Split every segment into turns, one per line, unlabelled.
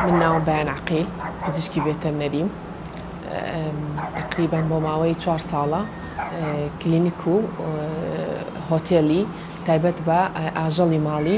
من ناوم بەیان عەقیل پزیشکی ڤێتەرنەریم تەقریبەن بۆ ماوەی چوار ساڵە کلینیک و هۆتێلی تایبەت بە ئاژەڵی ماڵی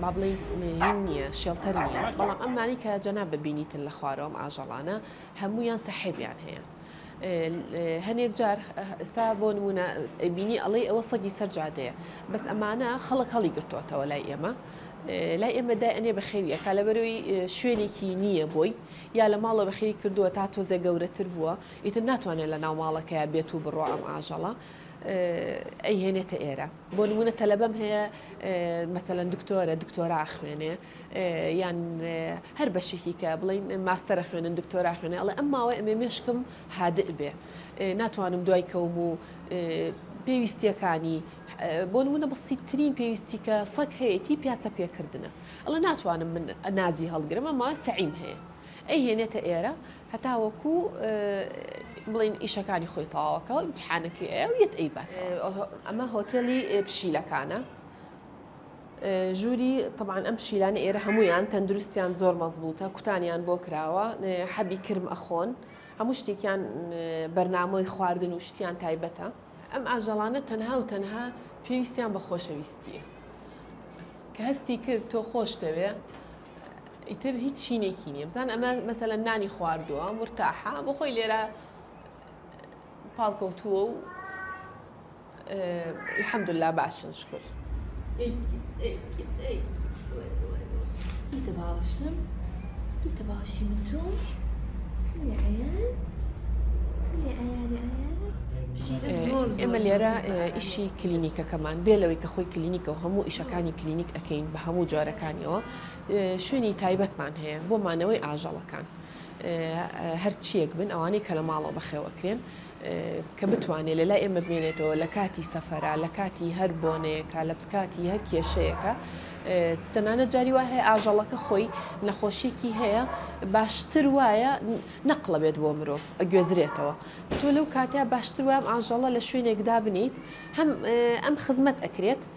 با بڵێین مێیین نییە شێڵتەر نییە بەڵام ئەمانی کە جەنا ببینیتن لە خوارەوەم ئاژەڵانە هەمویان سەحێبیان هەیە هەنێک جار ئستا بۆ نمونە بینی ئەڵەی ئەوە سەگی سەر جادەیە بەس ئەمانە خەڵک هەڵی گرتوتەوە لای ئێمە لای ئێمە دای ئەنێ بە خێویە کا لە بەرەوەی شوێنێکی نییە بۆی یا لە ماڵە بە خێوی کردووە تا تۆزێ گەورەتر بووە ئیتر ناتوانێت لە ناو ماڵەکەی بێت و بڕۆ ئەم ئاژەڵە ئەیهێنێتە ئێرە بۆ نموونە تەلەبەم هەیە مەسەلەن دکتۆرە دکتۆرا ئەخوێنێ یان هەر بەشێکی کە بڵین ماستەرە خوێنن دکتۆرا خوێنێ ئەڵێ ئەم ماوەی ئەمێ مێشکم هادئ بێ ناتوانم دوای کەوم و پێویستیەکانی بۆ نمونە بەسیترین پێویستی کە سەک هەیەی پیاسە پێکردنە ئەڵە ناتوانم من نازی هەڵگرم ئەما سەعیم هەیە ئەی هێنێتە ئێرە هەتاوەکو بڵێن ئیشەکانی خۆی تەواوەکەەوە امتحانەکەی ئەو یەت ئەی بات ئەمە هۆتێلی پشیلەکانە ژووری طبعاان ئەم پشیلانە ئێرە هەمویان تەندروستیان زۆر مەزبووتە کوتانیان بۆ کراوە حەبی کرم ئەخۆن هەموو شتێکیان بەرنامەی خواردن و شتیان تایبەتە ئەم ئاژەڵانە تەنها و تەنها پێویستیان بە خۆشەویستیە کە هەستی کرد تۆ خۆشتەوێ ئیتر هیچ چینێکی نییە بزان ئەمە مەسەلە نانی خواردووە مرتاحە بۆ خۆی لێرە پاڵکەوتووە و الحمدلله باشن شکر بیتە باوەشم
بیتە
باوەشی من تۆ ئێمە لێرە ئیشی کلینیکەکەمان بێ لەوەی کە خۆی کلینیکە و هەموو ئیشەکانی کلینیک کەین بە هەموو جۆرەکانیەوە شوێنی تایبەتمان هەیە بۆ مانەوەی ئاژەڵەکان هەرچیەک بن ئەوانەی کە لە ماڵەوە بەخێوەکرێن کە بتوانێت لە لای ئێمە بمێنێتەوە لە کاتی سەفرە لە کاتی هەر بۆنەیەەکە لە بکاتی هەر کێشەیەەکە تەنانە جاری وای هەیە ئاژەڵەکە خۆی نەخۆشیێکی هەیە باشتر وایە نەقلە بێت بۆ مرۆڤ ئەگوێزرێتەوە تۆ لەو کاتیا باشتر وام ئاژەڵە لە شوێنێکدا بنیت هەم ئەم خزمەت ئەکرێت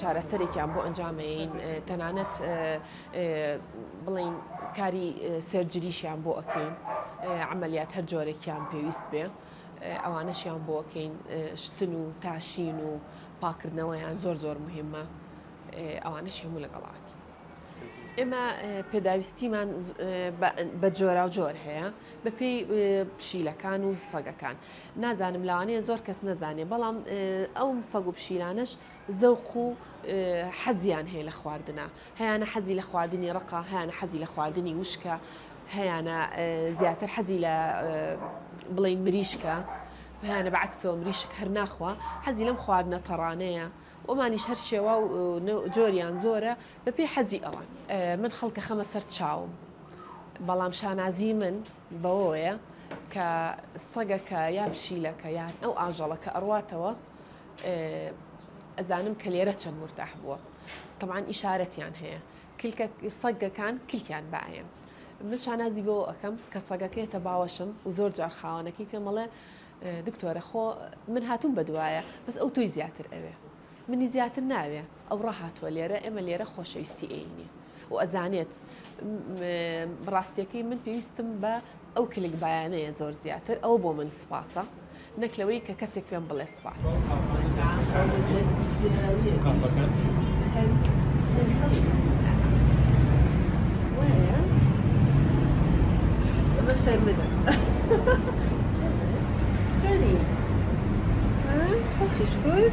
چارەسەرێکیان بۆ ئەنجامەیەین تەنانەت بڵێین کاری سەرجریشیان بۆ ئەکەین عملیات هەر جۆرەێکیان پێویست بێ ئەوانەشیان بۆکەین شتن و تاشین و پاکردنەوەیان زۆر زۆر مهمە ئەوانەش هەموو لەگەڵاک ئێمە پێداویستیمان بە جۆرا و جۆر هەیە بەپێی پشیلەکان و سەگەکان نازانم لەوانەیە زۆر کەس نەزانێ بەڵام ئەو سەگ و پشیلانەش زەوق و حەزیان هەیە لە خواردنە هەیانە حەزی لە خواردنی ڕقا هەیانە حەزی لە خواردنی وشکە هەیانە زیاتر حەزی لە بڵێ مریشکە هەیانە بە عکسەوە مریشک هەر ناخوا حەزی لەم خواردنە تەڕانەیە ئۆمانیش هەر شێوا و جۆریان زۆرە بەپی حەزی ئەوان من خەڵکە خەمە سەر چاوم بەڵام شانازی من بەوەوەیە کە سەگەکە یا پشیلەکە یان ئەو ئاژەڵە کە ئەڕواتەوە ئەزانم کە لێرە چەند مرتاح بووە طبعاان ئیشارەتیان هەیە کلکە سەگەکان کلکیان باەن من شانازی بۆ ئەەکەم کە سەگەکەێتە باوەشم و زۆر جار خاوەنەکەی پێمەڵێ دکتۆرە خۆ من هاتووم بە دوایە بەس ئەو تۆی زیاتر ئەوێ منی زیاتر ناوێ ئەو ڕاهاتوە لێرە ئێمە لێرە خۆشەویستی ئێینێ و ئەزانێت ڕاستیەکەی من پێویستم بە ئەو کلک بایانەیە زۆر زیاتر ئەو بۆ من سپاسە نەک لەوەی کە کەسێک پێم بڵێ سپاس شەرمدە شەری
خۆشی شکر